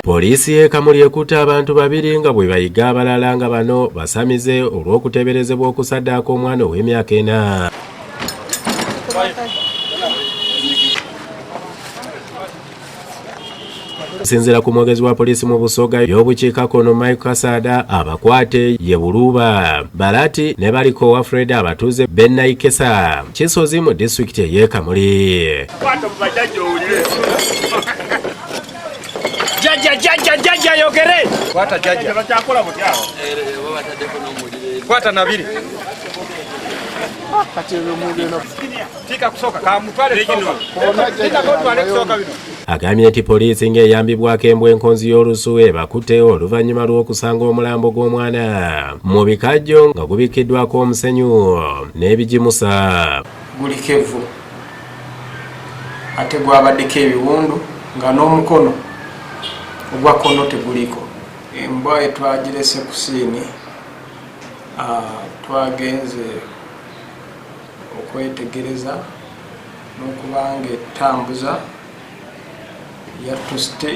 Poliisi y'e Kamuli ekutte abantu babiri nga bwe bayiga abalala nga bano basamize olw'okuteeberezebwa okusaddaaka omwana ow'emyaka ena. okusinzira ku mwogezi wa poliisi mu busoga y'obukiikakkono mike kasaada abakwate ye buluuba balati ne baliko wa fred abatuuze bennaikesa kisozi mu disitulikiti ey'ekamuli Jaja jaja jaja yogere. Kwata jaja. Bakyakola butya. Eh, eh, Babatadeko n'omuliro. Kwata nabiri. agambye nti poliisi ng'eyambibwako embwa enkonzi y'olusu ebakutte oluvannyuma lw'okusanga omulambo gw'omwana mu bikajjo nga gubikkiddwako omusenyu n'ebigimusa guliko evvu ate gwabaddeko ebiwundu nga n'omukono ogwa kono teguliko embwa etwagirese ku siini twagenze okwetegereza n'okuba nga etambuza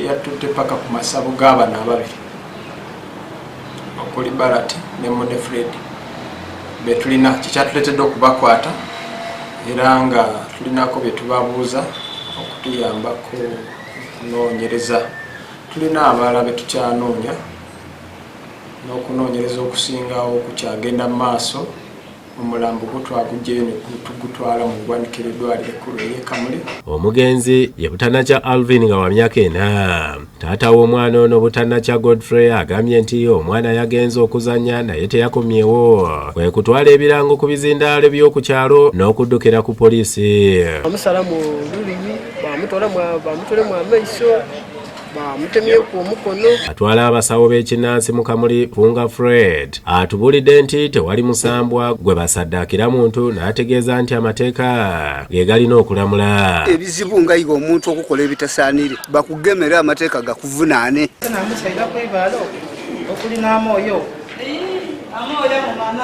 yattutte paka ku masabo g'abana ababiri okuli barat ne mune fred betulina kyekyatuletedde okubakwata era nga tulinako byetubabuuza okutuyambako okunoonyereza tulina abalala betukyanoonya n'okunoonyereza okusingawo kukyagenda mu maaso omulambo gwo twaguggyeyo ne tugutwala mu ggwanika ery'eddwaliro ekkulu ery'e Kamuli. Omugenzi ye Butanakya Alvin nga wa myaka ena. Taata w'omwana ono Butanakya Godfrey agambye nti omwana yagenze okuzannya naye teyakomyewo kwe kutwala ebirango ku bizindaalo by'oku kyalo n'okuddukira ku poliisi. Bamusala mu lulimi bamutwala mu amaiso bamutemyeku omukono atwala abasawo b'ekinnansi mu kamuli vunga fred atubulidde nti tewali musambwa gwe basaddaakira muntu n'ategeeza nti amateeka ge galina okulamula ebizibu nga yiga omuntu okukola ebitasaanire bakugemera amateeka gakuvunaane okulinaamwoyo amwoyo mu maana